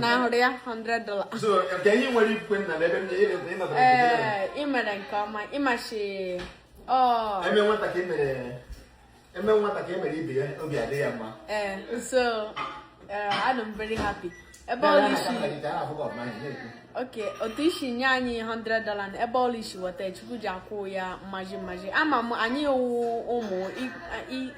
n'ahụrụ ya 100 dola ee i mere nke ọma ịmachi ọ e mee nwata ka e mere ibe ya obi adị ya mma ee so eh, anọ m very happy ebe ọla i si ok otu i si nye anyị 100 dollar na ebe ọla i si weta chukwu ji akwụ ya mmaji mmaji ama m anyị wụ ụmụ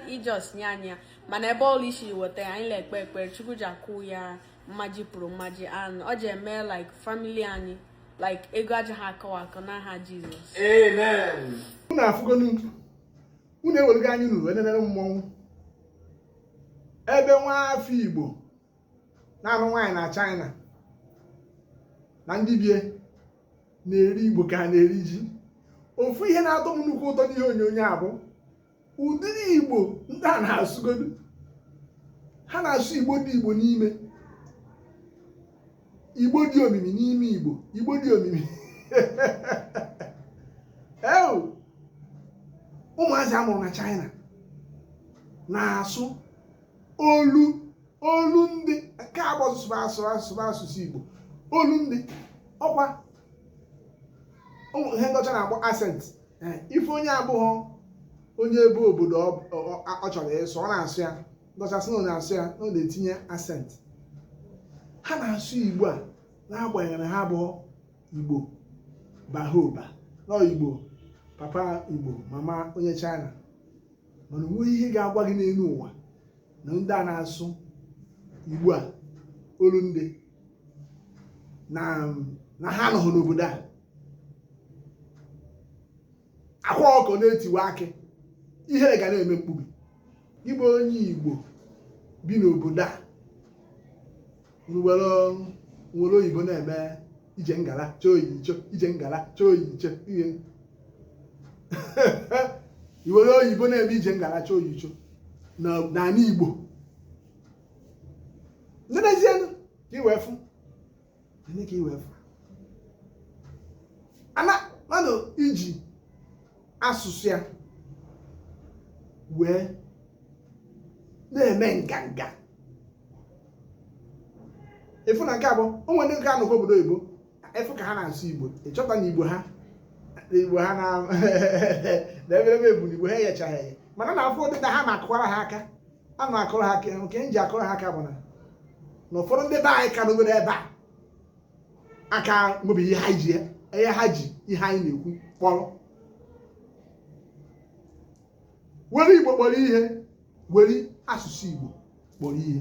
i just nye anyị ya mana ebe ọla i si weta anyị na-ekpe ekpere chukwu ji akwụ ya mmaji pụrụ mmaji anụ ọ ji eme like family anyị like ego aja ha akọwa akọ n'aha jizọs amen unu afụgonu unu ewelugo anya unu enenere mmọnwụ ebe nwa afọ igbo na-anụ nwaanyị na china na ndị be ya na-eri igbo ka a na-eri ji ofu ihe na-atọ m nnukwu ụtọ n'ihe onyonyo a bụ ụdịrị igbo ndị a na-asụgodu ha na-asụ igbo dị igbo n'ime igbo dị omimi n'ime igbo igbo dị omimi ụmụazị a mụrụ na China na-asụ olu olu ndị nke abụọ sụba asụ asụba asụsụ Igbo olu ndị ọkwa ihe ndị ọcha na-akpọ accent ị fụ onye abụghị onye ebe obodo ọ chọrọ ịsụ ọ na-asụ ya ndị ọcha asị na ọ na-asụ ya na ọ na-etinye accent ha na-asụ igbo a n'agbanyeghị na ha bụ igbo bahoba na igbo papa igbo mama onye china mana o nweghị ihe ga-agwa gị n'elu ụwa na ndị a na-asụ igbo a olu ndị na na ha anọghị n'obodo a akwa ọkụkọ na-etiwa akị ihere ga na-eme mkpume ị bụ onye igbo bi n'obodo a were oyibo na-eme ije ngala chọọ oyicho ije ngala chọọ oyicho ihe i were oyibo na-eme ije ngala chọọ oyicho n'ala igbo nenezienụ ka i wee fụ gịnị ka i wee fụ na mmadụ iji asụsụ ya wee na-eme nganga ị fụ na nke abụọ o nwere ndị ga-anọkwa obodo oyibo ị fụ ka ha na-asụ igbo ị chọta na igbo ha igbo ha na na ebelebe ị fụ na igbo ha eyechaghị eye mana na a fụ ụdị na ha na-akụwara ha aka a na-akụrụ ha aka nke m ji akụrụ ha aka bụ na na ụfọdụ ndị be anyị ka nọgoro ebe a aka nwebeghị ihe ha ji ihe ha ji ihe anyị na-ekwu kpọrọ were igbo kpọrọ ihe were asụsụ igbo kpọrọ ihe